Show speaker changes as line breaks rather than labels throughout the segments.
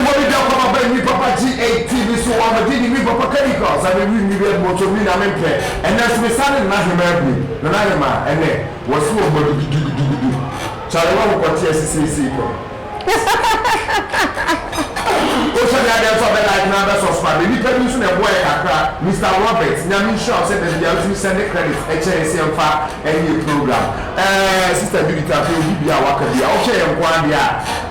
Wari da kwa ma bɛ mi papa ji ei ti mi so wa ma ji di mi papa kadi kwa sa mi wi mi bi ɛbi mo to mi na mi mpɛ ɛnɛ nso mi sa ne nana hemaa bi nana hemaa ɛnɛ wɔ si wɔ bɔ dudududududu chale wa ho kɔ teɛ si sei sei pɛ o sɛ mi adɛ nso a bɛ like na bɛ sɔspa mi nipa bi nso na ɛboa yɛ kakra Mister Robert nyame nhyira wo sɛ da bia wo tumi sɛnde credit ɛkyɛ yɛ sɛ ɛmfa ɛnyɛ program ɛɛ sister Judith afei obi bia waka bia wo hwɛ yɛ nko adeɛ a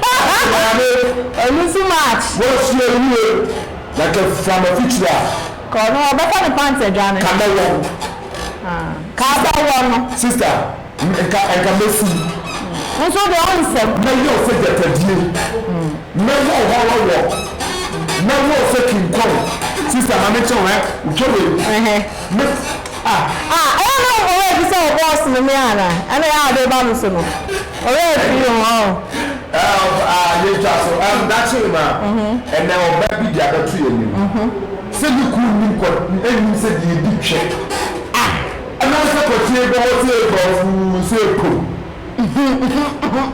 Maame! Ɛno nso match. Wasua yie na ka fura m'afikyire a. Ka ɔno ɔbɛfa ne pants adwane. Ka mɛwɔ no. Ah, ka bɛwɔ no. Sister, nka nka mɛsum. Wo nso deɛ wo nsɛm. Mɛyɛ wo sɛ gyatadie. Mɛwɔ wo hɔrɔwɔ. Mɛwɔ wo sɛ king kong. Sister ma menkyɛ wo ɛ, wotwa wei. Ah ah, ɛyɛ na ɔbɔ werɛ fi sɛ ɔbɔ ɔsom no me anaa? Ɛna ɛyɛ a ɔde ba me so no, ɔwerɛ afiri ho oh. Ah ah, yɛntwa so, ɛm daakye no a, ɛnɛ ɔba bi de abɛto yɛn anim sɛ ne kunu nnim kɔ, nnim sɛ deɛ ɛdi twɛ ah, ɛnam sɛ kɔteɛ bɔ hɔ sɛ ɛbɔ fuu sɛ ɛpom.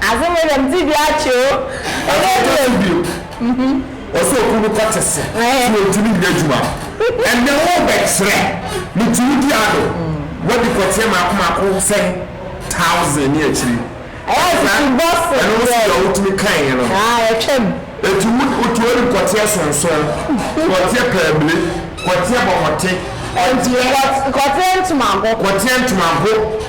Asɛm wei deɛ, me ti bi akye o. Ɛnɛ deɛ. Ɔsɛ ɔkunu no kɔte se ti ontumi nyɛ adwuma ɛnɛ wo bɛ kyerɛ ne ti wo di ado wadi kɔteɛ maako maako sɛn thousand ne akyiri ɛno no so deɛ wotumi kae yɛ no ɛti wo ti wadi kɔteɛ sonson kɔteɛ pɛɛmile kɔteɛ bɔmɔte kɔteɛ ntomago kɔteɛ ntomago.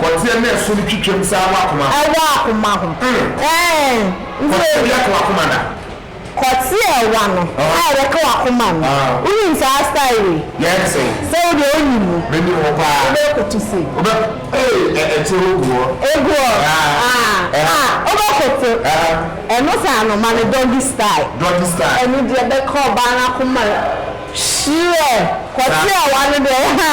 Pɔteɛ na ɛso no twitwam saa wɔ akoma ho. Ɛwɔ akoma ho. Ɛɛn. Pɔteɛ bi aka w'akoma da? Pɔteɛ wa no a wɔka w'akoma no, wonim saa style wei? Yɛn se. Sɛ wo deɛ wonim mu. Menim ho paa. Wobɛkoto sei. Wobɛ ee ɛte hɔ gu hɔ. Egu hɔ? Aah. Aah wobɛkoto. Ɛno saa no ma no doggy style. Doggy style. Ɛno deɛ bɛka ɔbaa no akoma. Hyerɛ kɔterɛ wa no dɛ ha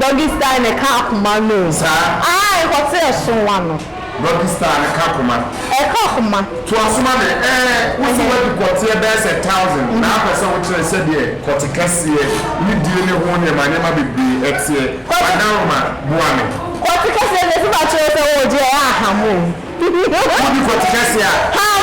doggy style ne ka akoma no o aa nkɔterɛ so wa no. Doggy style ne ka akoma. Ɛka akoma. Toa so ma me ɛɛ wo se wadi kɔteɛ bɛyɛ sɛ thousand na apɛ sɛ wo kyerɛ sɛdeɛ kɔte kɛseɛ ne die ne ho nneɛma nneɛma bebree ɛteɛ Adaroma boa me. Kɔte kɛseɛ deɛ ɛsɛ sɛ akyerɛ sɛ oo gye ɛyɛ aham o. Wodi kɔte kɛseɛ a. Ham.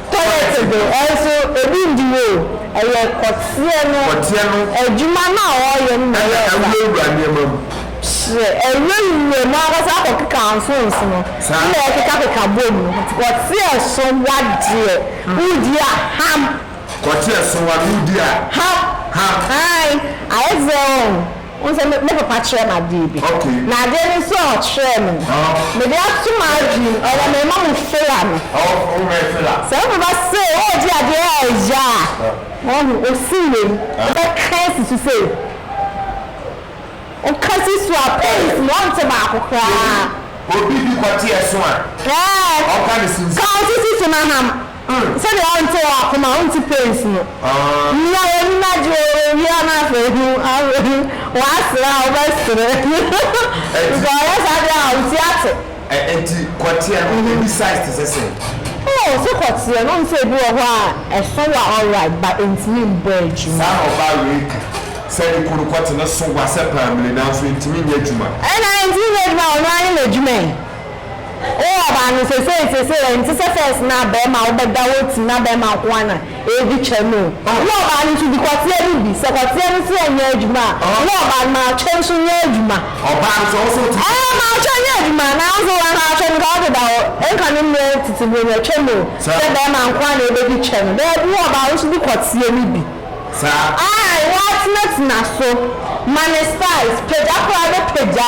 Toilet de nso ebi ndi hɔ o, ɛyɛ kɔteɛ no adwuma no a ɔreyɛ no na ɛyɛ ɔkwa. Ɛna awurawura nneɛma mu. Hyɛ awurawura mu ankasa akɔkeka nsonso no na ɛkekakeka bɔ mu no, kɔteɛ sowa deɛ wodi a ham. Kɔteɛ sowa no wodi a ham. Ham. Aane, ayɛ te sɛ. Wohu sɛ me papa kyerɛɛ me adeɛ bi. Na adeɛ no nso a ɔkyerɛɛ me no, mede ato m'adwene mu. Ɔyɛ me mma mu fela no. Sɛ wo papa se ɔregye adeɛ a ɛya a, woahu, ɔsi wei, wobɛka asi so sei. Woka si so a, pains no, wonte baako koraa. Obi di kɔteɛ so a, ɔka ne sisi. Ka wo sisi so na ham. mm. Sɛdeɛ ɔnte wɔ akoma a ɔnte pains no Nea w'ani no agye wɔ wɔ awia no afei hu afei W'asere a wobɛsere Sɛ ɔyɛ saa deɛ a ɔnte ate Ɛ enti kɔteɛ no ɛbi size te sɛ sɛn? Oh sɛ kɔteɛ no wohu sɛ ɛbi wɔ hɔ a ɛso wa alright but ɛntumi mbɔ adwuma. Saa na ɔbaa wei ka sɛ ne kunu kɔte no so wa sɛ paamire nanso ɛntumi nyɛ adwuma. Ɛna ɛntumi nyɛ adwuma a ɔno ara ne n'adwuma yi. Oh ɔbaa no sesei sesei ɛnte sɛ first na bɛɛma a wobɛda wo ti na bɛɛma nko ara na ɛredi kyɛ no o wo ɔbaa no nso di kwateɛ no bi sɛ kwateɛ no se ɛnyɛ adwuma a wo ɔbaa no ma atwɛn nso nyɛ adwuma ɛɛ ma atwɛn nyɛ adwuma nanso anka atwɛn nka wode da hɔ nka ne mmrɛ tete buro no twɛm o sɛ bɛɛma nko ara na ɛbɛdi kyɛ no daabi wo ɔbaa wo nso di kwateɛ no bi ae woatena tena so ma ne size pagya koraa bɛpagya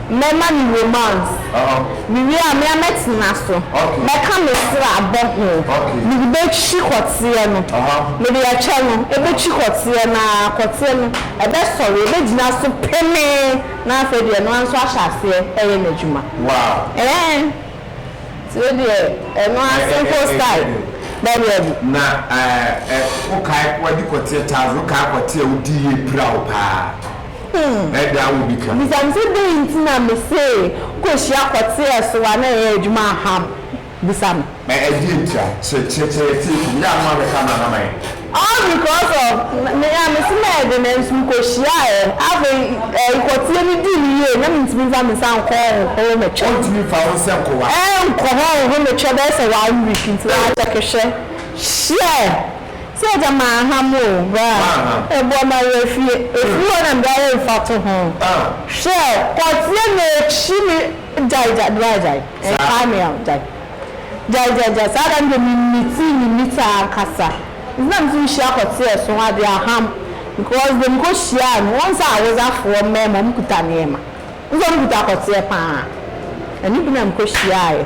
Mɛma no romance. Mewie a, me ara mɛtena so. Mɛka me srɛ abɔ ho. Mede bɛtwi kɔteɛ no. Mede ɛkyɛ no bɛtwi kɔteɛ no ara, kɔteɛ no ɛbɛsɔre, ɛbɛgyina so pemee, na afei deɛ ɛno ara nso ahyɛ aseɛ reyɛ n'adwuma. Ɛɛn! Nti wo deɛ, ɛno ara simple style. Dabi dabi. Na wokae, wadi kɔteɛ Charles, wokae kɔteɛ a wodiiɛ pira wo paa? Bisa me sɛ dɛn nti na mese wokohyia kɔteɛ so a na ɛyɛ adwuma aha m bisa me. All because of me a mese mɛyɛ dɛn nanso mekohyiaɛ afei kɔteɛ no dii me yie na mentumi mfa me nsa nkɔ hɔ nkɔ hɔ mɛtwɛ. Ɛnkɔ hɔ nkɔ hɔ mɛtwɛ bɛyɛ sɛ one week nti wa check hwɛ share. Sɛ agya maa ha mo o, bra ɛboa ma yɛ fie. Ɛfiri hɔ na mede ayɛ mfatoho. Hwɛ, kɔteɛ m'akyi me gyae gyae, bra gyae, ɛnkaa me a, gyae. Gyae gyae gyae, saa da no deɛ memitee me mita ankasa. Nti na meso mehyia kɔteɛ so ade aham because deɛ mekɔhyiaa no, wohu sɛ Hawosafoɔ mmarima wɔkuta nneɛma, wohu sɛ wɔkuta kɔteɛ pa ara. Ɛno bi na mekɔhyiaaeɛ.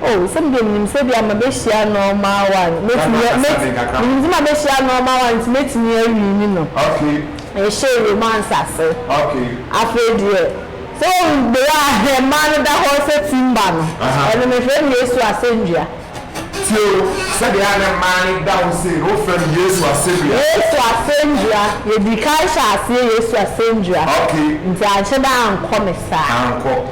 Oh, sɛdeɛ menim sɛ ebia mabɛhyia nnoɔma a one, mɛtumi, mɛt, menim sɛ mabɛhyia nnoɔma a one nti mɛtumi awini no. Yɛhyɛɛ romance ase. Afei deɛ, sɛ woahu the way a hɛn mmaa no da hɔ sɛ timber no, ɛno mefrɛ no Yesu asɛnnua. Tie o, sɛdeɛ a na mmaa no da hɔ sei no, wofrɛ no Yesu asɛnnua. Yesu asɛnnua, yɛdii kan hyɛɛ aseɛ Yesu asɛnnua. Nti anhyɛ da ankɔ me saa. Ankɔ.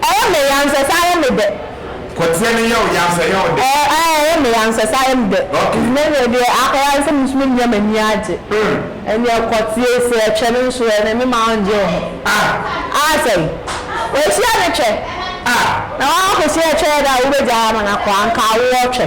Ɛyɛ me ya nsɛ sɛ ayɛ me dɛ. Kɔteɛ no yɛ wo ya nsɛ yɛ wo dɛ. Ɛɛ ɛɛ ɛyɛ me ya nsɛ sɛ ayɛ me dɛ. Okay. Nnɛ neɛ deɛ akɔyɛ ara ne sɛ me nso mɛnya m'ani agye. Mm. Ɛneɛ kɔteɛ sɛ ɛtwɛ no nso ɛ, n'ani ma ɔngye wo ho. Ah. Ah sɛi? Wahyia ne twɛ. Ah. Na woankɔsi ɛtwɛ da a wobɛgyaa ama no akɔ, anka awoɔ twɛ.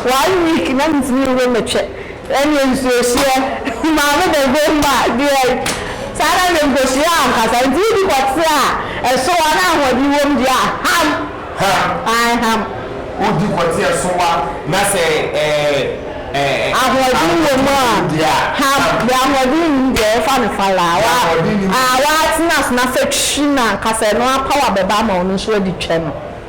One week na mentumi nwe metwɛ. Ɛneɛ nsuohyeɛ maame bɛbom ma deɛ saa na deɛ nkosua ankasa nti wodi kɔte a ɛso wa na ahoɔden wom deɛ a ham ae ham. Wodi kɔte a ɛso wa na sɛ ahoɔden wom a ham deɛ ahoɔden nnim deɛ yɛfa no falaa wa a watena so na sɛ twi no ankasa ɛno ara pawa bɛba ama wo no nso wadi twɛ no.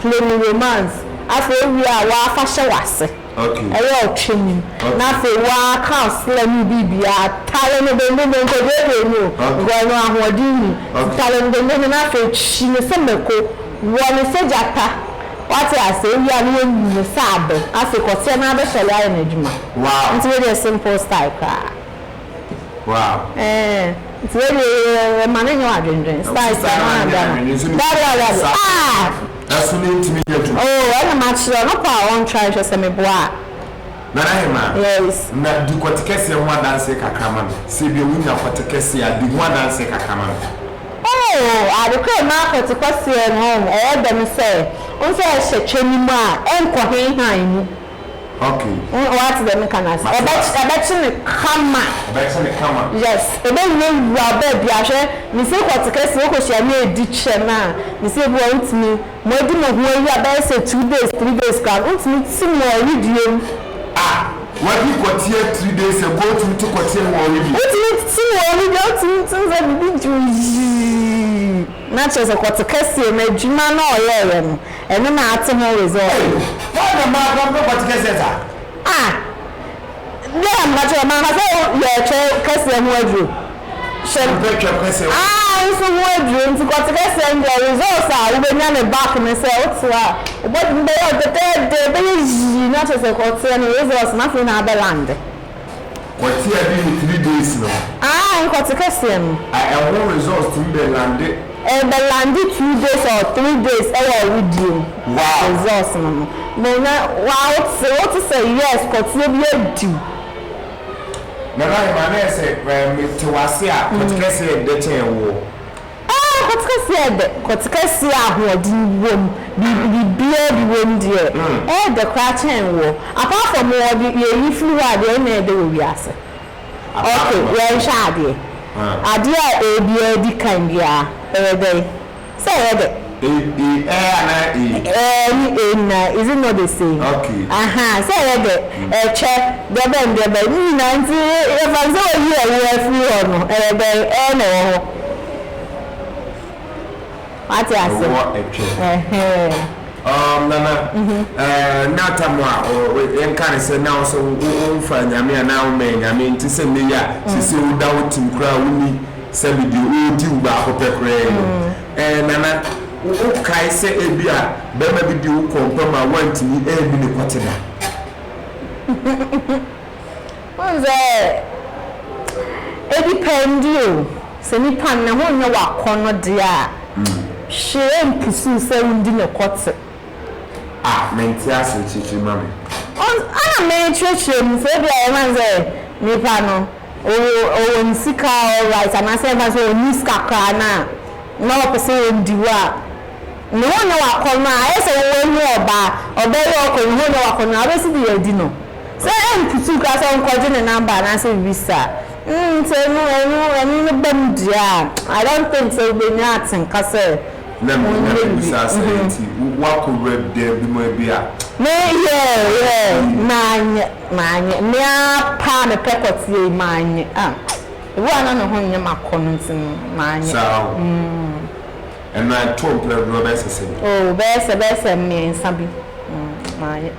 Play me romance afei wowie a waa fa hyɛ wase ɛyɛ ɔtwe mu na afei waa ka ɔsla mu biribiaa tare no dendenden nkɔduadua mu o because ɛno ahoɔden nnim tare no dendenden na afei twi no sɛ mako wɔ no sɛ gyata wate aseɛ wowie a na wanu no sɛ abɛ afei kɔteɛ na abɛsɔre ayɛ no adwuma nti wei deɛ simple style koraa. Wow. Eh, nti wei deɛ yɛ ma ne nyɛ wadwendwen spice no ara da no dabi dabi dabi ah ɛso ne ntumi nyɛ adwuma oh ɛna ma kyerɛ ɔno pa a ɔntra nhwɛ sɛ meboa a nana yɛ ma yes na di kɔte kɛseɛ ho adanseɛ kakra ma me sɛ bia wonya kɔte kɛseɛ a di ho adanseɛ kakra ma me oh ade kɔ ɛma kɔte kɛseɛ no ɛyɛ dɛ no sɛ wo sɛ ɛhyɛ twɛ ne mu a ɛnkɔ henhan mu Okay. W'ate deɛ meka no ase. Mate Ɛbɛ ase. ɛbɛkye no kama. Ɛbɛkye no kama. Yes, ɛbɛwura wura baabi a hwɛ me sɛ kɔ te kɛseɛ wokɔ hyia no ɛdi kyɛ no a me sɛ ebi wɔ hɔ a wontumi mo adi mo ho ayi a bɛyɛ sɛ two days three days koraa no wontumi te mo ɔwedeɛ mu. Ah, w'adi kɔteɛ three days ago wotumi te kɔteɛ no wɔ ɔwedeɛ? Wotumi te wɔ ɔwedeɛ wotumi te sɛ biribi dwo yii na kyerɛ sɛ kɔ te kɛseɛ no adwuma no a ɔyɛɛyɛ no Ɛno na ate ho result no. Hwan na maa kwan ma Vatican sɛ saa? Ah! Dɛn na meka kyerɛ wo? Manka sɛ yɛ Twɛ kɛseɛ ho aduro. Hyɛ Wo mpɛ Twɛ kɛseɛ ho aduro. Ah! Nso ho aduro nti kɔ te kɛseɛ no deɛ results a wo bɛnya no back no sɛ wo te a wo body no bɛyɛ wo dɛdɛɛdɛ ɛbɛyɛ yii na kyerɛ sɛ kɔ teɛ no results no afei na abɛ lande. Kɔtea bi ne three days no. Ah nkɔte kɛseɛ no. Ah ɛho results tumi bɛ lande. Ɛbɛ lande two days or three days ɛwɔ awodeɛ mu. Wow. Results no no na na waa wote wote sɛ yes kɔteɛ bi adi wo. Nana Aheman na yɛ sɛ me te wase a kɔte kɛseɛ ɛdɛ kyɛn woɔ. Aah kɔtekɛseɛ ɛdɛ. Kɔtekɛseɛ a ahoɔden wom, biribiara bi wom deɛ, ɛɛdɛ koraa kyɛn woɔ. Apart from wo wɔde yɛyi firi hɔ a, deɛn na ɛɛdɛ wɔ wiase? Ok, yɛnhwɛ adeɛ. Adeɛ a ɛɛbiara di kan biara, ɛyɛ dɛn? Sɛ ɛyɛ dɛ. E e ɛɛ anaa ee? Ɛɛ ne ee nyinaa, is it not the same? Okay. Ahaa, sɛ ɛyɛ dɛ, ɛkyɛ, deɛbɛn deɛbɛn, ne nyinaa nti yɛfa no sɛ wayi ɛwo afiri hɔ no, ɛyɛ dɛn, ɛɛ na ɛwɔ hɔ. Wate ase? Ɛwɔ ɛkyɛ. Ɛhɛɛ. Um, Nana, ɛɛ na tam a ɔ ɔ yɛnka ne sɛ na wo sɛ wo wo womfa Nyame anaa wommɛn Nyame nti sɛ nnɛ yi a sese woda wo tim koraa wonni sɛbe deɛ ɔɔdi wo baako pɛ koraa yi no. Ɛɛ, Nana, wokae sɛ ebia barima bi de wo kɔɔ mpa mu a woantumi anni no kwati da? Wohu sɛ ɛdipɛndi o. Sɛ nipa no ne ho nyɛ w'akɔnnɔ deɛ a, hwee mpusuw sɛ wundi no kwati. Ah, mente ase. Kyerɛkyerɛ ma me. Wohu sɛ, ɛna merekyerɛkyerɛ mu sɛ ebia yɛbɛka no sɛ nipa no. Ɔwɔ ne sika a alright anaasɛ ɛmfa ho sɛ ɔnni sika koraa no a na ɔpɛ sɛ ɔndi wo a, ne ho nyɛ w'akɔnnɔ a, ayɛ sɛ wo wɔ ne ɔbaa, ɔbaa yi a ɔkɔ ne ho nyɛ w'akɔnnɔ a, wobɛsi de adi no? Sɛ ɛmputuw koraa sɛ ɔnkɔgye ne number anaasɛ biribi saa. Nti ɛno ɛno ɛno no ba mu deɛ a, I don't think sɛ wobɛnya atenka sɛ monyɛ biribi. Lem, na mebisa sɛ nti woakɔwura dan bi mu a bi a. Me, yeah, yeah, manyɛ. Mannye. Me ara pɛ a mepɛ kɔteɛ yi, mannye. Ah, ebi wɔ hɔ a na me ho nyɛ me akɔnnɔ nti no, mannye. Saa o. Mm. Ɛno a, ɛtoo mprɛ dodoɔ bɛyɛ sɛ sɛn? Oh, bɛyɛ sɛ, bɛyɛ sɛ mmiɛnsa bi. Mm, mannye.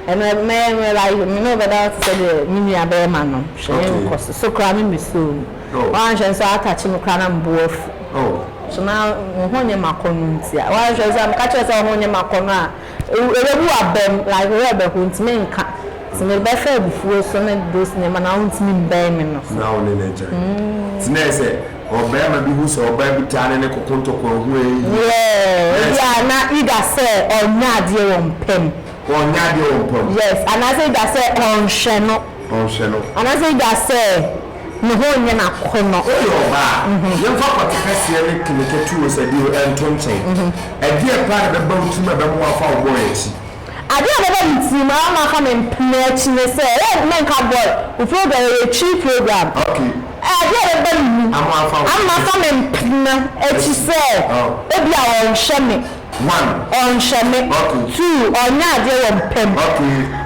Ɛno a, me, me like, me ne wo bɛda hɔ te sɛ deɛ me nua bɛrima no. Hwɛ ne nkɔso. So koraa me mmesuo o. Oh. Woanhwɛ nso atakye me koraa na me bo afu. Oh. So na me ho nyɛ me akɔnnɔ nti a. Woanhwɛ nso a, meka kyerɛ wo sɛ wo ho nyɛ me akɔnnɔ a, Erebu abam like rɛbɛ ho ntsi mennka, ntsi mebɛfa ebufuw so ne those ndzɛmba na onntumi mmbɛn me no so. Na wo ne no agyae. Ntsi nna sɛ ɔbarima bi hu sɛ ɔbaa bi taa ne no kɔ kɔntɔkwa a, ohue eyi. Yeah, ebi a na either sɛ ɔnnyɛ adeɛ wɔ mpa mu. Ɔnnyɛ adeɛ wɔ mpa mu. Yes, anaasɛ either sɛ ɔnnhwɛ no. Ɔnnhwɛ no. Anaasɛ either sɛ. Ne ho nyɛ no akɔnnɔ. Woyɛ ɔbaa a, yɛmfa pɔte kɛseɛ ne kene ketewa sɛ deɛ ɛnto nkyɛn. Ɛdeɛn paa na ɛbɛba wo tirim a ɛbɛma woafa wo bɔɔl akyi? Adeɛ a ɛbɛba me tirim a ama afa me mpena akyi ne sɛ, ɛyɛ menka bɔɔl, wo program yɛ yɛ Twi program. Okay. Adeɛ a ɛbɛba me mu ama afa me mpena akyi sɛ, ebia wɔnhwɛ me. one. Ɔnhwɛ me two ɔnyɛ adeɛ wɔ mpɛ mu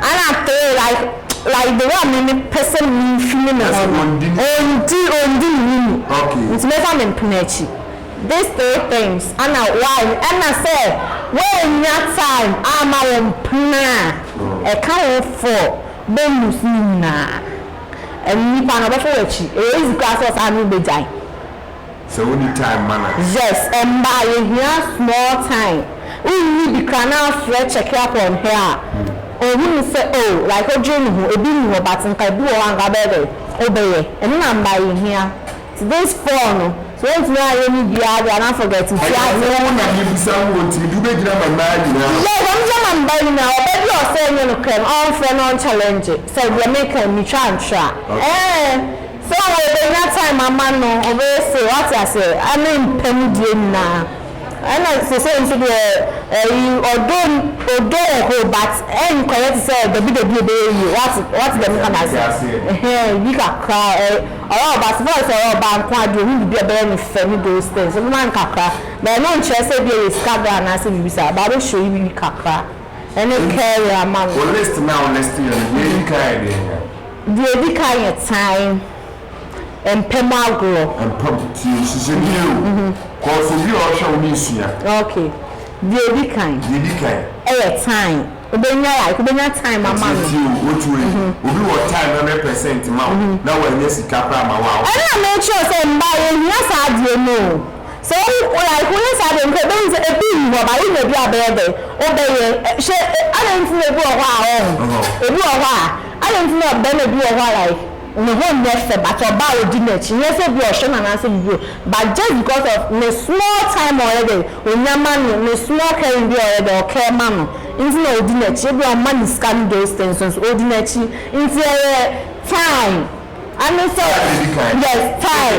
ɛna three like like the way a me me pɛ sɛ me fili me ho no ɔndi ɔndi me no ni nti mɛfa me mpena akyi this three things ɛna why ɛna sɛ woannya time amma wo mpena a ɛka wo four bɛlose ne nyinaa ɛno nipa no ɔbɛfa wo akyi ɛyɛ easy koraa sɛ ɔsaa ne wo bɛgyae. Sɛ wo ni time ma no a. Yes mbaa yehia small time wo nyi bi kra na afrɛ check up on her a ohu no sɛ oh like odwere ne ho ebi ni hɔ but nka ebi wɔ hɔ a nka wobɛyɛ dɛn wobɛyɛ ɛno na mbaa yehia nti this fall no sɛ wontumi anyɛ ne biaa de a na forget nti a. Ɛyɛ wo na mebisa wo o nti mede wobɛgyina ama mbaa nyinaa o. Yes ɔno de ama mbaa nyinaa ɔbaa bi a ɔsɛ ɛnyɛ no krɛm ɔnfrɛ na ɔnchallenge sɛ deɛ meka yi metwa antra ɛɛn. So obenya time ama no, ɔbɛyɛ sei, wate aseɛ, ɛne mpɛ mu deɛ nyinaa. Ɛna seisei nso deɛ, ɛyi, ɔdɔ, ɔdɔ wɔ hɔ but ɛnkɔyɛ te sɛ dabi dabi ɛbɛyɛ yie, wate, wate deɛ meka no aseɛ, ɛhɛn, bi kakra, ɛ, ɔyɛ ɔbaa, so far as ɔyɛ ɔbaa nko ara deɛ ɔhu biribi a ɛbɛyɛ no fɛ ne those things, ɔbɛma no kakra, but ɛno nkyerɛ sɛ ebia ɛyɛ sika deɛ anaasɛ biribi saa, but abɛ show yi biribi kakra, ɛne caring ama no. Wo list no a wo list yɛ no, deɛ ɛdi kan a ɛdeɛn a, Deɛ ɛdi kan yɛ tan mpɛ mu agorɔ. Mpɛ mu tie sisi ni yɛ o. Kɔ sɛ wie a ɔhwɛ wo ne sua. Ok deɛ ɛdi kan. Deɛ ɛdi kan. Ɛyɛ tan wobɛnya like wobɛnya time ama no. Ɛtie tie o otu wei obi wɔ time hundred percent ma wo na wanya sika koraa ma wo a. Ɛno na mekyerɛ sɛ mmaa yɛ hia saa adeɛ no o sɛ wo like wo yɛ saa deɛ nka ɛbɛhu sɛ ɛbi nni hɔ ba wo nya bi a bɛyɛ dɛn wobɛyɛ hyɛ adɛn nti na ɛbi wɔ hɔ a ɔho ɛbi wɔ hɔ a. Adɛn nti na barima bi wɔ hɔ a like ne ho nyɛ fɛ but ɔbaa a odi n'akyi nyɛ sɛ ebia ɔhwɛ no anaasɛ biribi o but just because of ne small time a ɔyɛ dɛn onya ma no ne small caring bi a ɔyɛ dɛn ɔcare ma no nti na odi n'akyi ebia ɔmma no sika ne those things no so odi n'akyi nti ɛyɛ fine. Ano sɛ yes tie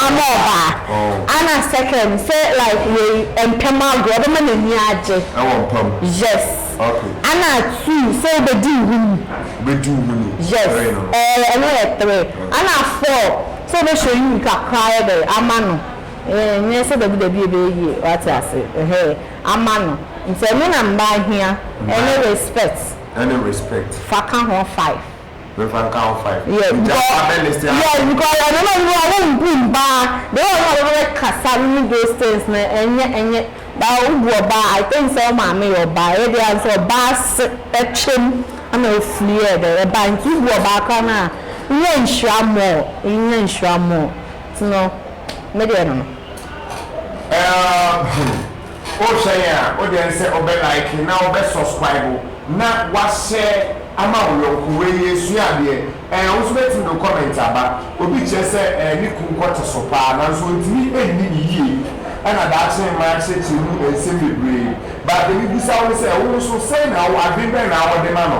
ama ɔbaa ana second sɛ like wei mpɛm agorɔ ɔbɛma n'ani agye yes ana two sɛ wobɛdi nhunu yes ɛɛ ɛno yɛ three ana four sɛ wobɛhyɛ nhunu kakra ayɛ dɛ ama no ɛɛ nyɛ sɛ dabi dabi ɛbɛyɛ yie wate ase ɛhɛɛ ama no nti ɛno na mmaa hia ɛne respect fa ka ho five. Mɛmfa nka wo fine. Yes because Gya pa bɛ ne se ase. Yes because ɛno na ɔno a wo bu mbaa de wɔ ɔno a bɛ bɛ kasa no ne those things no ɛnyɛ ɛnyɛ baa wo bu ɔbaa I think sɛ wo maame yɛ ɔbaa ɛyɛ de a nso ɔbaa se ɛtwe mu ɛna ofiri yɛ dɛ ɛbaa nti wo bu ɔbaa koraa no a wonya nhyira more wonya nhyira more nti no me deɛ ɛno no. Ɛɛɛm hmm. O kyerɛ yɛn a o dɛn sɛ o bɛ like na o bɛ sɔskwaibo na wa share ama o yɔnko wei yɛ sua adeɛ ɛɛ wo nso bɛ tumi de o comment aba obi kyerɛ sɛ ɛɛ ne kun kɔ te so paa nanso ontumi nni ne yie ɛna daakye mma akyerɛkyerɛ mu nsɛm bebree but deɛ me bisa wo ne sɛ wo nso sɛn na wo adwen bɛn na wo de ma no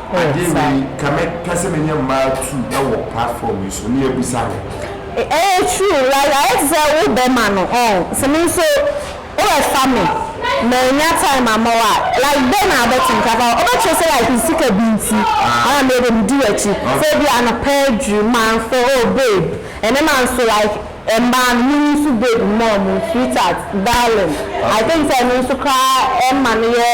Ade wei nka me pɛ sɛ me ne mmaa tu wɔ platform yi so na yɛbusa ho. Ɛyɛ true like ayɛ te sɛ wo bɛ ma no ɔn sɛ me nso wo bɛ fa me mannya time ama wo a like dɛn na wo bɛ te nka fa wo bɛ kyerɛ sɛ like sika bi nti ana me de me di w'akyi sɛ ebi anɔpa aduru manfɛ oh babe ɛnɛ manso like Mmaa no mo nso baby mom sweetheart darling I think sɛ ɛno nso koraa ɛma no yɛ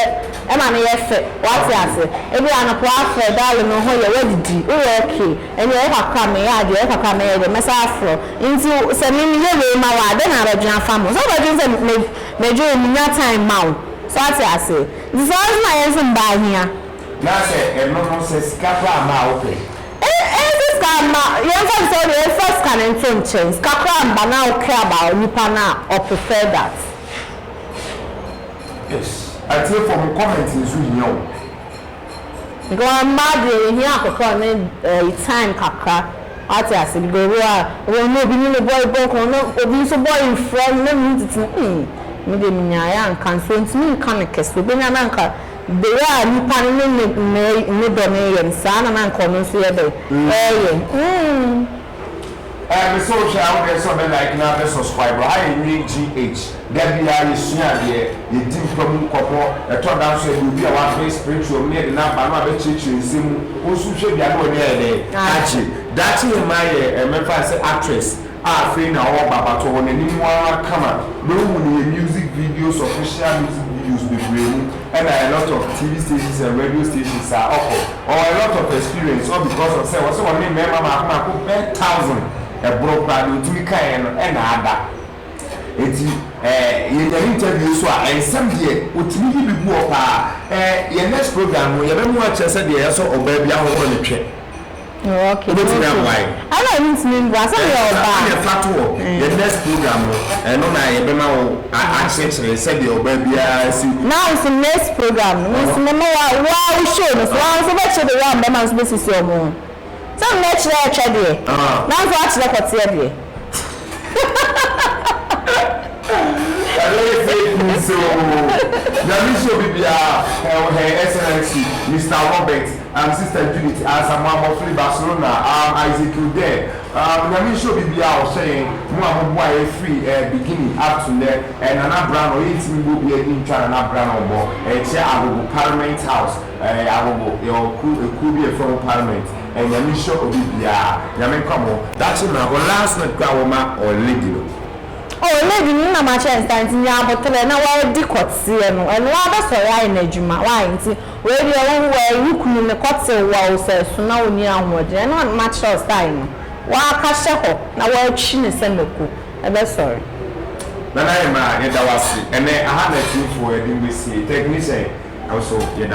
ɛma no yɛ fɛ wate ase ebia anɔpa wafrɛ darling me ho yɛ wadidi woyɛ ok ɛnneɛ wo kakra me yɛ adeɛ wo kakra me yɛ adeɛ mɛsan afrɛ wo nti sɛ me meyɛ wei ma wo a dɛn na wobɛdwene afa me ho sɛ wobɛdwene sɛ me medwo wo menya time ma wo so wate ase nti saa nso na yɛn nso mmaa hia. Na sɛ ɛno no sɛ sika koraa mmaa wopɛ Ntsi sika mma yɛmfa no sɛ ɔno mfa sika no nto nkyɛn sika koraa mma na wo care about nipa no a ɔ prefer that. Yes atiefo mo comment nso hia o. Because mmaa deɛ yɛhia akokɔ ne ɛyi time kakra wate ase because ebi wɔ hɔ a wobɛhu na obi ne ne boy bɔ nkɔmmɔ na obi nso boy mfrɛ no na ne ho tete no eii me deɛ menyaeɛ anka nso ntumi nka no kɛse obɛnya no anka Bere a nipa no ne ne mmere ne dɔ no reyɛ no, saa ara na na anka ɔno nso yɛ dɛn? Reyɛ. Mm. Ɛɛ me sɛ wohwɛ a wodeɛ sɛ ɔbɛ like na abɛ suscribe ha yɛ nwene GH da biaa yɛ sua adeɛ yɛ di mpa mu nkɔmɔ ɛtɔ da nso yɛde obi a w'aben spiritual mu na yɛde no aba no abɛ kyerɛkyerɛ nsɛm mu wo nso hwɛ bi a na w'ani ayɛ dɛn agye daakye hema yɛ mɛfa no sɛ actress a afei na ɔreba but ɔwɔ n'anim ara kama na ohu no yɛ music videos official music videos bebree mu ɛna a lot of TV stations and radio stations a ɔkɔ ɔwɔ a lot of experience all because of sɛ ɔsɛ ɔne mmarima mako mako bɛɛ thousand ɛboro koraa deɛ ɔtumi kaeɛ no ɛna ada enti eh, yɛnya ne interview nso a ɛnsɛm deɛ ɔtumi yi bi gu hɔ paa eh, yɛ next program no yɛbɛma akyerɛ sɛ deɛ yɛsɔ ɔbaa bi ahohoro ne twɛ. Okay. Obetumi aboa yɛ. Ɛna ɛmi ntumi mboa sɛ mi yɛ ɔbaa. Ɛna ɛfa to wɔ yɛ next program no ɛno na yɛ bɛ ma wo akyerɛkyerɛ sɛ deɛ ɔbaa biara si. Na nso next program no mi nso mɛ ma wa wa wo show no so wa nso bɛ kyerɛ de wa mbɛma nso bɛ sisi ɔmo ho sɛ mɛ kyerɛ ɛtwɛ deɛ na nso akyerɛ kɔteɛ deɛ. Ɛbɛyɛ fake news oo. Nyame nhyɛ obi biara ɛwɔ Her Excellency Mister Robert, um Sister Judith Ansamoah Mofli Barcelona, um Isaac Kildair, um Nyame nhyɛ obi biara a ɔhwɛ yɛn, mo a mo boa yɛn firi eh beginning up to nnɛ, eh Nana Branor, yɛntumi mma obiara di ntwa Nana Branor bɔ, eh kyerɛ Agogo Parliament House. Ɛyɛ ahobo yɛwɔ kuw ekuo bi a yɛfrɛ ho parliament ɛ nyame nhyira obi biaa nyame nka mo ho daakye mmra hɔ last night koraa wɔ ma ɔɔ lady no. Oh lady no nam akyɛ nsa nti nya aboterɛ na w'adi kɔteɛ no ɛno waa bɛsɔre ayɛ no adwuma why nti wei deɛ wo wo ɛɛ wo kunu no kɔ tew wo a ɔsɛ so na ɔnni ahoɔden ɛno a ma kyerɛ wo sign no waa ka hyɛ hɔ na waa twi no sɛ mako ɛbɛsɔre. Nana Emma yɛda wo ase ɛnɛ aha na atumfoɔ yɛde wo bɛsie technician nso yɛda.